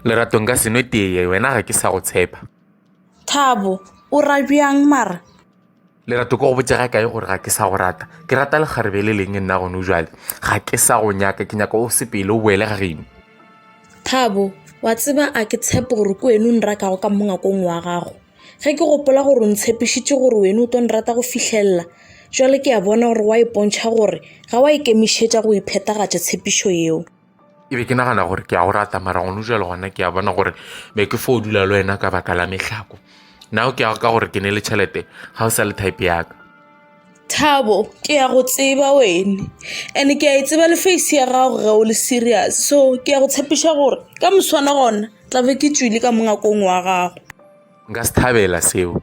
leratong ka senwe teye wena ga ke sa go tshepa thabo o ra bjang mara lerato ko go botse ga kae gore ga ke sa go rata ke rata lekgarebe le leng nna gone jale ga ke sa go nyaka ke nyaka o sepele o boele ga geno thabo wa tseba a ke tshepe gore ke wene o nrakago ka mongakong wa gago Ge ke gopola gore o ntshepišitše gore wena o tlo nrata go fihlelela, bjale ke a bona gore wa ipontšha gore ga wa ikemišetša go e phethagatša tshepišo yeo. ke be ke nagana gore ke a go rata mara gone jalo gona ke a bona gore be ke fo dula le wena ka baka la mehlako nao ke ya ka gore ke ne le tšhelete ga o sa le type yaka Thabo, ke ya go tseba wene and ke a e tseba le face ya gago ge o le serious so ke ya go tshepiša gore ka moswane gona tla be ke tswile ka mongakong wa gago. Nka se thabela seo.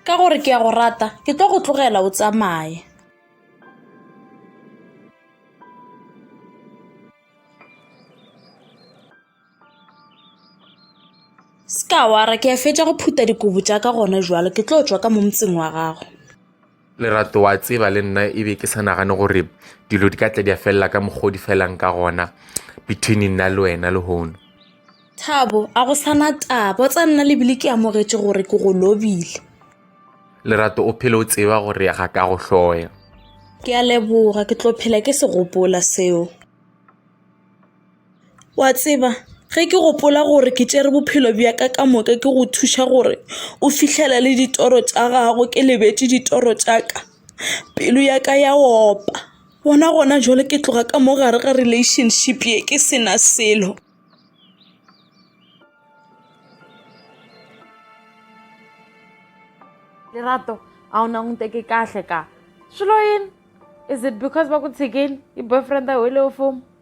Ka gore ke ya go rata ke tlo go tlogela o tsamaye. Ska wara ke a fetša go phuta dikobo tša ka gona jwalo ke tlo tšwa ka mo motseng wa gago. Lerato wa tseba le nna e be ke sa nagane gore dilo di ka tla di a felela ka mokgwa o di felang ka gona between nna le wena lehono. Thabo, a go sana taba o tsa nna lebile ke amogetše gore ke go lobile. Lerato o phele o tseba gore ga ka go hloya. Ke a leboga ke tlo phela ke se gopola seo. Wa tseba ge ke gopola gore ke tšere bophelo bja ka ka moka ke go thuša gore o fihlela le ditoro tša gago ke lebetše ditoro tša ka pelo ya ka ya opa bona gona jwale ke tloga ka mo gare ga relationship ye ke sena selo. Lerato a o nang nte ke kahle ka swilo yini is it because ba ku tshikile yi boyfriend a wele o fomo.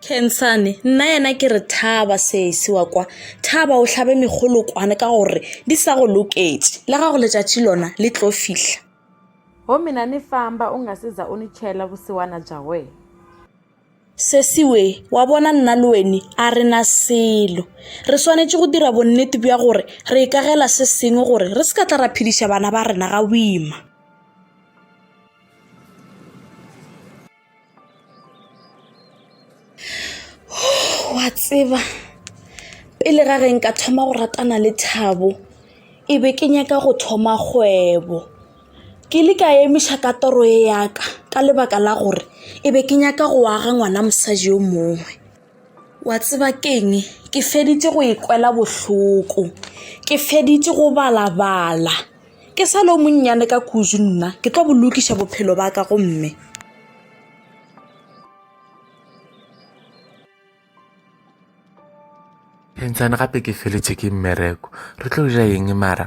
Khensane, Nnayena ke re thaba sesi wa kwa, thaba o hlabe megolokwane ka gore di sa go loketše, le ga go letšatši lona le tlo fihla. Gomme na ni famba u nga si za u ni tšhela vusiwana bya wena? Sesi we, wa bona nna le weni a re na selo. Re swanetše go dira bonnete bja gore re ikagela se sengwe gore re se ka tla ra phediša bana ba rena ga boima. wa tseba pele ga reng ka thoma go ratana le thabo e be ke nyaka go thoma kgwebo ke le ka emiša ka toro e yaka ka lebaka la gore e be ke nyaka go aga ngwana mosadi yo mongwe Wa tseba keng ke feditše go e kwela bohloko ke feditše go balabala ke sa le o monnyane ka kudu nna ke tlo bolokiša bophelo ba ka gomme phentšane gape ke feletše ke mmereko re tlo dira eng mara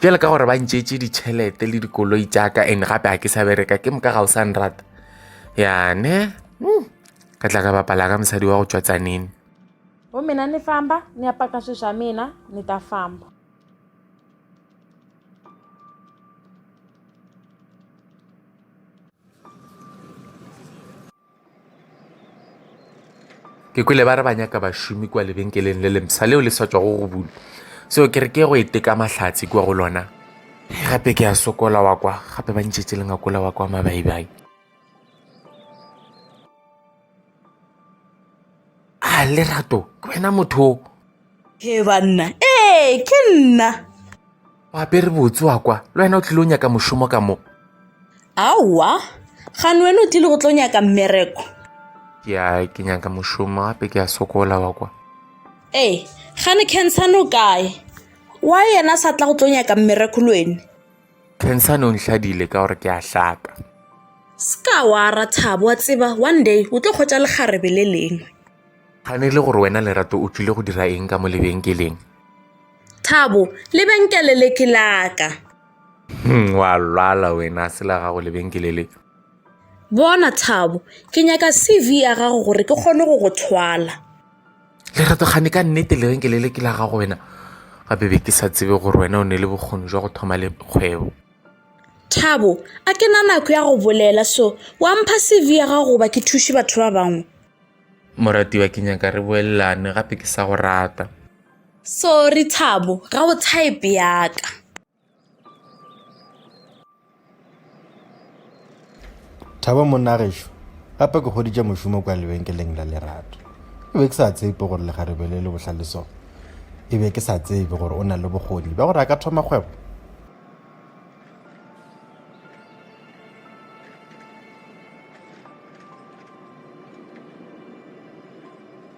bjale ka gore ba ntšeetše ditšhelete le dikoloi tšaka and gape ga ke sa bereka ke moka ga o sa nrata yane hmm. ka tla ka bapala ka mosadi wa go tšwa tsanene o mina ni famba ni ya paka swi swa mina ni ta famba ke kwele ba re ba nyaka bašomi kua lebenkeleng le lemsa leo le sa tswago go bula seo ke re ke go e teka mahlatse kua go lona gape ke a sokola wa kwa gape ba ntšhetse lengakola wa kwa mabaibai a lerato ke wena motho ke banna ee ke nna o apere botse wa kwa le wena o tlile o nyaka mošomo ka mo aowa gane wena o tlile go tlo nyaka mmereko ke a ke nyaka mošomo gape ke a sokola wa kwa ee gane cancern o kae wa yena sa tla go tlo nyaka mmereko le wene cancern o ntlhadile ka gore ke a hlaka se ka wa ra thabo wa tseba one day o tlo kgwetsa lekgarebe le lengwe gane le gore wena lerato o tlile go dira eng ka mo lebenkeleng Thabo, Lebenkele le ke la ka. Hmm, wa lwala wena, se la gago lebenkele le. Bona Thabo, ke nyaka CV ya gago gore ke kgone go go thwala. Lerato, gane ka nnete lebenkele le ke la gago wena. Gape be ke sa tsebe gore wena o ne le bokgoni jwa go thoma le kgwebo. Thabo, a ke na nako ya go bolela so, wa mpha CV ya gago goba ke thuše batho ba bangwe. Moratiwa, ke nyaka re boelelane gape ke sa go rata. Sorry Thabo, ga o type ya ka. Thabo monna gešo, gape ke goditše mošomo kwa lebenkeleng la lerato. E be ke sa tsebe gore legarebe le le bohlale so. E be ke sa tsebe gore o na le bokgoni ba gore a ka thoma kgwebo.